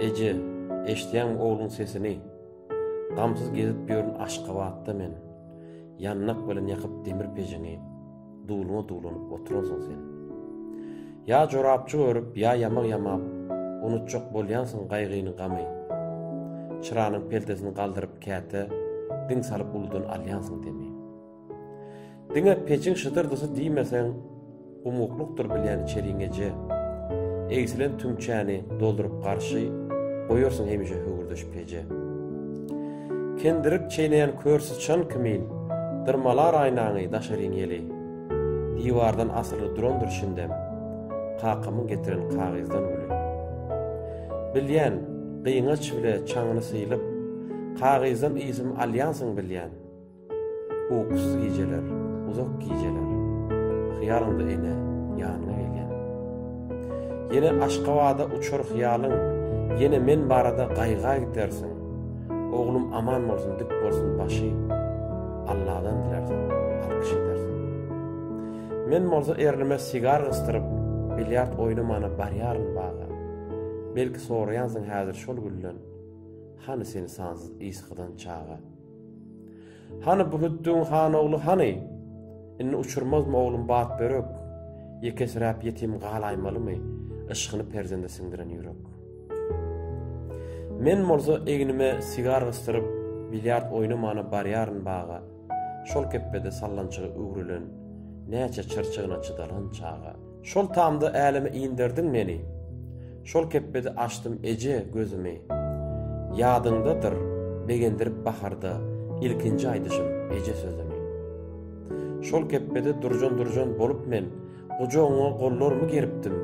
Eje, eşdýäňmi ogluň sesini? Gamsyz gezip ýörün Aşgabatda men. Ýandak bilen ýakyp demir pejiňi, Duluňa dulanyp oturansyň sen. Ýa jorapjyk örüp, ýa ýamak ýamap, Unutjak bolýansyň gaýgyny, gamy. Çyranyň peltesini galdyryp käte, Diň salyp uludan alýansyň demi. Diňe peçiň şydyrdysy diýmeseň, umuklykdyr bilýän içeriň eje. Egsilen tüňçäni dolduryp garşy, goýarsyň hemişe höwürdeş peje. Kendirik çeýneýän kör syçan kimin, dyrmalar aýnaňy daşaryň ýeli. Diwardan asyly durandyr şindem, kakamyň getiren kagyzdan güli. Bilýän, gyňaç bile çaňyny sylyp, kagyzdan ysym alýansyň bilýän. Ukusuz gijeler, uzak gijeler, Hyýalyňda ene, ýanyňa gelýän. Ýene Aşgabada uçar hyýalyň, Ýene men barada gaýga gidersiň. Oglum aman bolsun, dik bolsun başy, Alladan dilersiň, alkyş edersiň. Men bolsa erlime sigar gysdyryp, Bilýard oýnamana barýaryn baga. Belki soraýansyň häzir şol gülden, Hany seni sansyz ysgydan çaga. Hany bu Hüddüň han ogly hany? Indi uçurmazmy oglum bat börek? Ýekesiräp ýetim galaýmalymy? Yşkyny perzende siňdiren ýürek. Men bolsa egnime sigar gysdyryp, bilýard oýnamana barýaryn baga. Şol kepbede sallançygy üwrülen, näçe çyrçygyna çydalan çaga. Şol tamda äleme inderdiň meni, Şol kepbede açdym eje gözümi. Ýadyňdadyr, begendirip baharda Ilkinji aýdyşym eje sözümi. Şol kepbede durjan-durjan bolup men Gujagyňa gollarymy geripdim.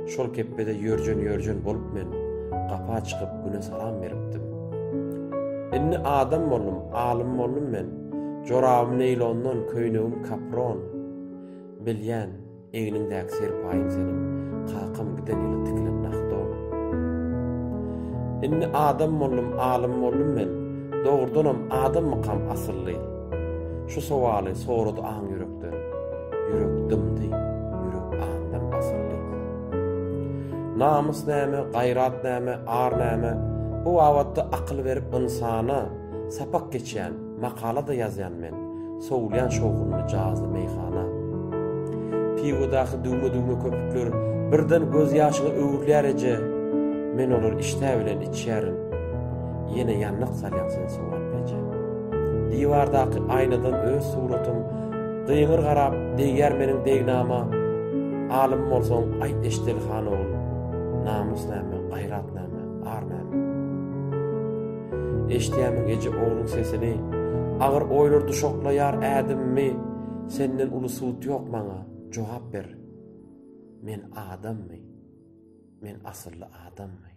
Şol kepbede ýörjen-ýörjen bolup men Gapa çykyp Güne salam beripdim. Indi adam boldum, alym boldum men, Jorabym neýlondan, köýnegim kapron. Bilýän, egniňdäki serpaýyň seniň, kakam giden ýyly tikilen nah don. Indi adam boldum, alym boldum men, dogrudanam adammykam asylly? Şu sowaly sorady aň ýürekden. Ýürek dymdy, ýürek aňdan basyldy. Namys näme, gaýrat näme, ar näme, bu babatda akyl berip ynsana, sapak geçýän, Makala-da ýazýan men, sowulýan şowhunly jazly meýhana. Piwodaky düwme-düwme köpükler birden gözýaşyňa öwrülýär eje, men olary işdä bilen içýärin. Ýene ýandak salýaň sen sowap eje. Diwardaky aýnadan öz suratym gyňyr garap degýär meniň degnama, Alym bolsaň, aýt Eşdeli han ogul, namus näme, gaýrat näme, ar näme? Eşdýärmiň eje ogluň sesini, Agyr oýlar duşaklaýar ädimimi, Senden uly sud ýok maňa, jogap ber, Men adammy, men asylly adammy?